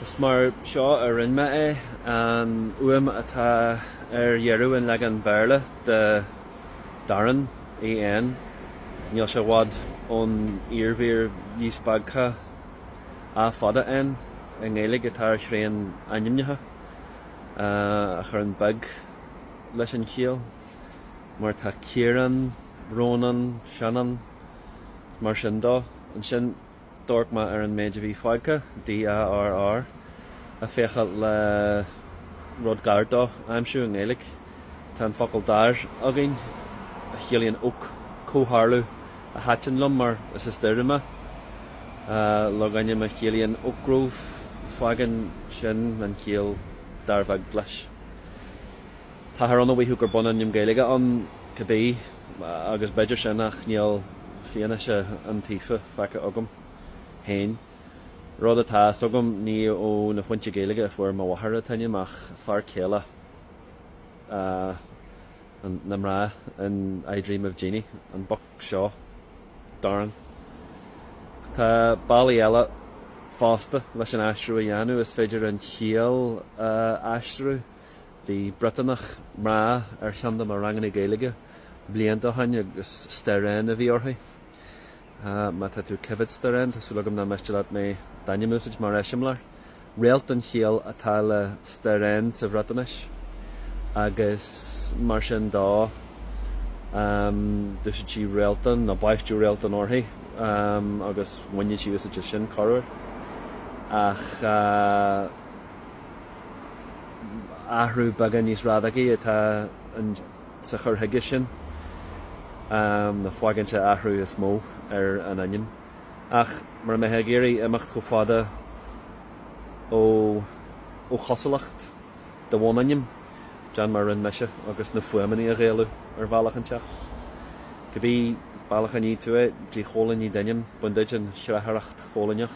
Is mar seo a rinne mé é, an fhuaim atá ar dheireadh an leagain Bhéarla de Darren, EN, níl sé i bhfad ón iarmhír dhíspeagtha A fada, N, i nGaeilge atá ar tréan ainmneacha a chuireann beg leis an chiall, mar atá Ciarán, Rónán, Seanán, mar sin dó. Ansin. D'amharc mé ar an méid a bhí fágtha, DARR, ag féacháil le rud gar dó a aimsiú i nGaeilge. Tá an focal dair againn, a chiallaíonn oak, comhtharlú a thaitin liom mar is as Doire mé. Logainm a chiallaíonn oak grove, fágann sin an chiall dair bheag leis. Táthar ann a mhaífeadh gur bunainm Gaeilge ann cibé. Agus b'fhéidir sin, ach níl fianaise iontaofa feicthe agam féin. Rud atá fhios agam, ní ó aon fhoinse Gaeilge a fuair mo mháthair an t-ainm ach fear céile na mná in I Dream of Jeannie, an boc seo Darren. Tá bealaí eile fosta leis an aistriú a dhéanamh, is féidir an chiall a aistriú. Bhí Briotánach mná ar cheann de mo ranganna Gaeilge blianta ó shin agus Sterren a bhí uirthi. Má tá tú ag coimhéad, Sterren, tá súil agam nach miste leat mé d'ainm a úsáid mar eiseamláir. Réalt an chiall atá le Sterren sa Bhriotáinis agus mar sin dó d'úsáid sí Réaltán nó baisteadh Réaltán uirthi agus bhain sí úsáid as sin corruair. Ach. athrú beagán níos radacaí atá insa chur chuige sin, nó fágann sé athrú is mó ar an ainm. Ach mura mbeifeá ag iarraidh imeacht chomh fada ó chosúlacht do bhunainm, déan mar a rinne mise agus na fuaimeanna a Ghaelú ar bhealach inteacht, cibé bealach a ní tú é, díchoilínigh d'ainm, bain duit an tsrathair choilíneach.